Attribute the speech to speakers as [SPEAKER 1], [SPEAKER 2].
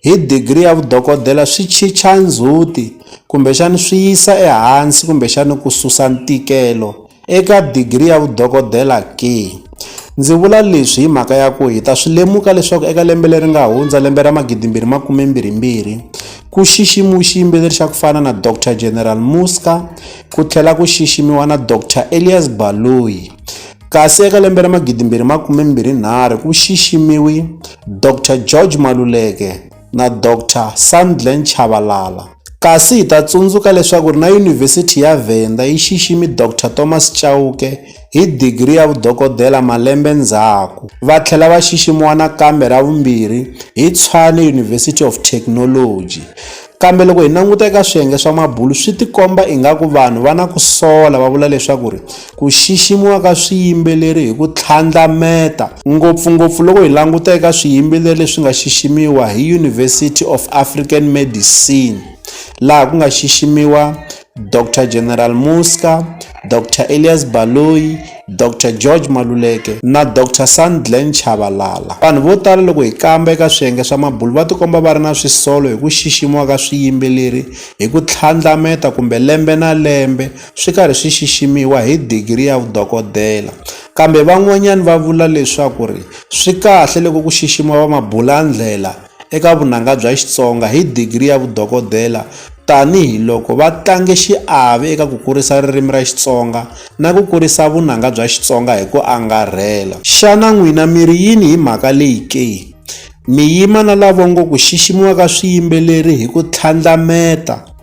[SPEAKER 1] hi digri ya vudokodela swi chicha ndzhuti kumbexana swi yisa ehansi kumbexana ku susa ntikelo eka digri ya vudokodela ke? Ndzi vula leswi hi mhaka ya ku hi ta swi lemuka leswaku eka lembe leri nga hundza lembe ra magidimbirhi makumembirhimbirhi ku xiximiwe xiyimbeleri xa ku fana na Dr General Muska ku tlhela ku xiximiwa na Dr Elias Baloyi Kasi eka lembe ra 2023 ku xiximiwi Dr George Maluleke na Dr Sandlen Chabalala. Kasi hi ta tsundzuka leswaku na Yunivhesiti ya Venda yi xiximi Dr Thomas Chauke hi digiri ya vudokodela malembe ndzhaku, va tlhela va xiximiwa nakambe ra vumbirhi hi Tshwane University of Technology. Kambe loko hi languta eka swiyenge swa mabulu swi tikomba ingaku vanhu va na ku sola va vula leswaku ku xiximiwa ka swiyimbeleri hi ku tlhandlameta, ngopfu-ngopfu loko hi languta eka swiyimbeleri leswi nga xiximiwa hi University of African Medicine laha ku nga xiximiwa Doctor General Muzka, Doctor Elias Baloyi, Doctor George Maluleke na Doctor Sandglen Chabalala. Vanhu vo tala loko hi kamba eka swiyenge swa mabulu va tikomba va ri na swisolo hi ku xiximiwa ka swiyimbeleri hi ku tlhandlameta kumbe lembe na lembe swi karhi swi xiximiwa hi digiri ya vudokodela. Kambe van'wanyani va vula leswaku ri swi kahle loko ku xiximiwa va mabulandlela. eka vunanga bya Xitsonga hi digri ya vudokodela tani hi loko va tlange xiave eka ku kurisa ririmi ra Xitsonga na ku kurisa vunanga bya Xitsonga hi ku angarhela. Xana n'wina mi ri yini hi mhaka leyi ke? Mi yima na lavo ngo ku xiximiwa ka swiyimbeleri hi ku tlhandlameta.